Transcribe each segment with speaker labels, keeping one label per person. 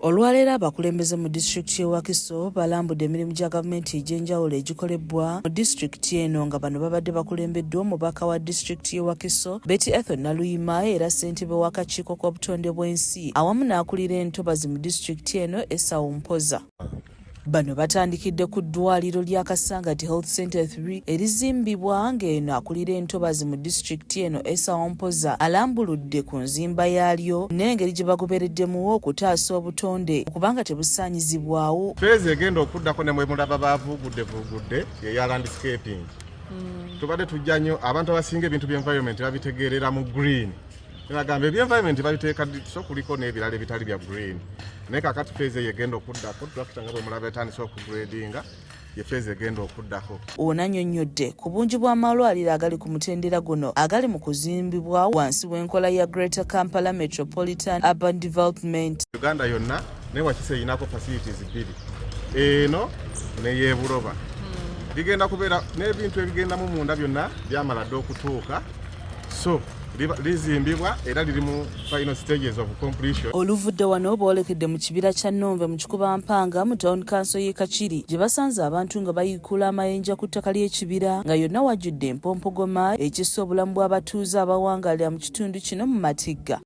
Speaker 1: Olwaleero abakulembeze mu disitulikiti y'e Wakiso balambudde emirimu gya gavumenti egy'enjawulo egikolebbwa mu disitulikiti eno nga bano babadde bakulembeddwa omubaka wa disitulikiti y'e Wakiso Betty Ethel Naluyima era ssentebe w'akakiiko k'obutonde bw'ensi awamu n'akulira entobazi mu disitulikiti eno Esau Mpoza. Bano batandikidde ku ddwaaliro lya Kasangati Health Center 3 erizimbibwa ng'eno akulira entobazi mu disitulikiti eno Esa Ompoza alambuludde ku nzimba yaalyo n'engeri gye bagobereddemuwo okutaasa obutonde okubanga tebusaanyizibwawo. Feezi egenda
Speaker 2: okuddako ne mwemulaba baavuugudde vuugudde eya landscaping. Hmm. Tubadde tujja nnyo abantu abasinga ebintu by'environment babitegeerera mu green. Nagamba ebyo environment babiteeka so kuliko n'ebirala ebitali bya green naye kakati feezi eyo egenda okuddako tulakita nga bwe mulaba etandise okugradinga yefeeza egenda okuddako ono annyonnyodde
Speaker 1: ku bungi bw'amalwaliro agali ku mutendera guno agali mu kuzimbibwa wansi w'enkola ya greater kampala metropolitan urban development uganda yonna
Speaker 2: naye wakisa erinako facilities bbiri eno neyebuloba hmm. bigenda kubeera n'ebintu ebigendamu munda byonna byamala dda okutuuka so lizimbibwa era liri mu final stages of completion oluvudde wano
Speaker 1: boolekedde mu kibira kya nonve mu kikuba mpanga mu town kanso y'e kakiri gye basanze abantu nga bayiikula amayinja ku ttaka ly'ekibira nga yonna wajjudde empompogoma ekissa obulamu bw'abatuuze abawangaalira mu kitundu kino mu matigga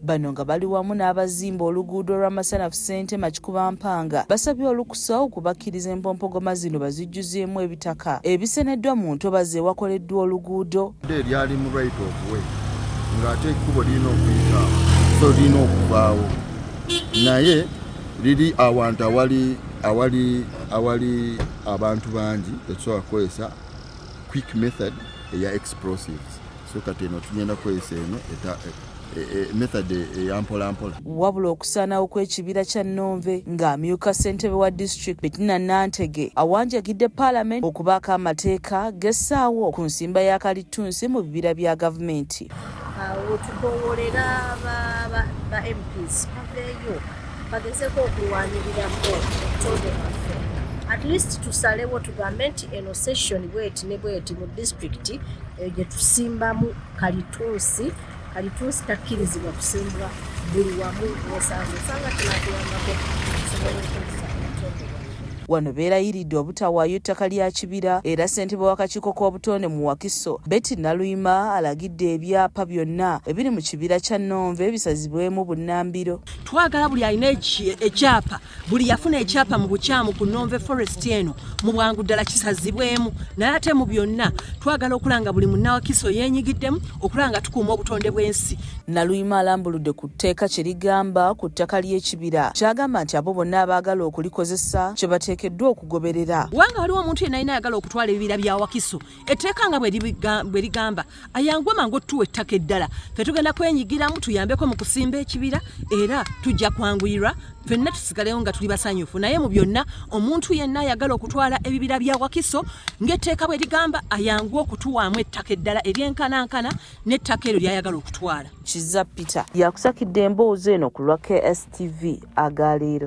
Speaker 1: Bano nga bali wamu n'abazimba oluguudo lwa Masanafu Ssentema Kikuba Mpanga basabye olukusa okubakkiriza empompogoma zino bazijjuzeemu ebitaka ebiseneddwa mu ntobazi ewakoleddwa oluguudo eryali mu right
Speaker 3: of way ng'ate ekkubo lirina okuyitaawo so lirina okuvaawo naye liri awantu awali awali awali abantu bangi tekisobola kukozesa quick method eya explosives so kati eno tugenda kukozesa eno E, e, method eyampolampola wabula okusaanawo
Speaker 1: kw'ekibira kya nonve ng'amyuka ssentebe wa district betina nantege awanjagidde paalamenti okubaako amateeka gessaawo ku nsimba ya kalittunsi mu bibira bya gavumenti wetukowolera
Speaker 4: ba mps baveeyo bagezeko okulwanirira obutonde bwaffe at least tusalewo tugambe nti eno session bweti ne bweti mu disitulikiti eyo gye tusimbamu kalitunsi kalitunsi takkirizibwa kusimbwa buli wamu wesanze osanga kinatuyambako okusobola okukozesa wano
Speaker 1: beerayiridde obutawaayo ettaka lya kibira era ssentebe w'akakiiko k'obutonde mu wakiso betty naluyima alagidde ebyapa byonna ebiri mu kibira kya nonve bisazibwemu bunnambiro twagala buli alina
Speaker 5: ekyapa buli yafuna ekyapa mu bukyamu ku nonve forest eno mu bwangu ddala kisazibwemu naye ate mu byonna twagala okulanga buli munnawakiso yenyigiddemu okulanga tukuuma obutonde bw'ensi naluyima alambuludde
Speaker 1: ku tteeka kye ligamba ku ttaka ly'ekibira kyagamba nti abo bonna abaagala okulikozesa kye bateekeddwa okugoberera wanga waliwo omuntu yenna
Speaker 5: yina ayagala okutwala ebibira bya wakiso etteeka nga bwe ligamba ayanguwe mangu otutuwa ettaka eddala fe tugenda kwenyigiramu tuyambeko mu kusimba ekibira era tujja kwanguyirwa fenna tusigalewo nga tuli basanyufu naye mu byonna omuntu yenna ayagala okutwala ebibira bya wakiso ng'etteeka bwe ligamba ayangu okutuwaamu ettaka eddala eryenkanankana n'ettaka eryo lyayagala okutwala kiza
Speaker 1: peter yakusakidde emboozi eno ku
Speaker 5: lwa
Speaker 1: kstv agaleero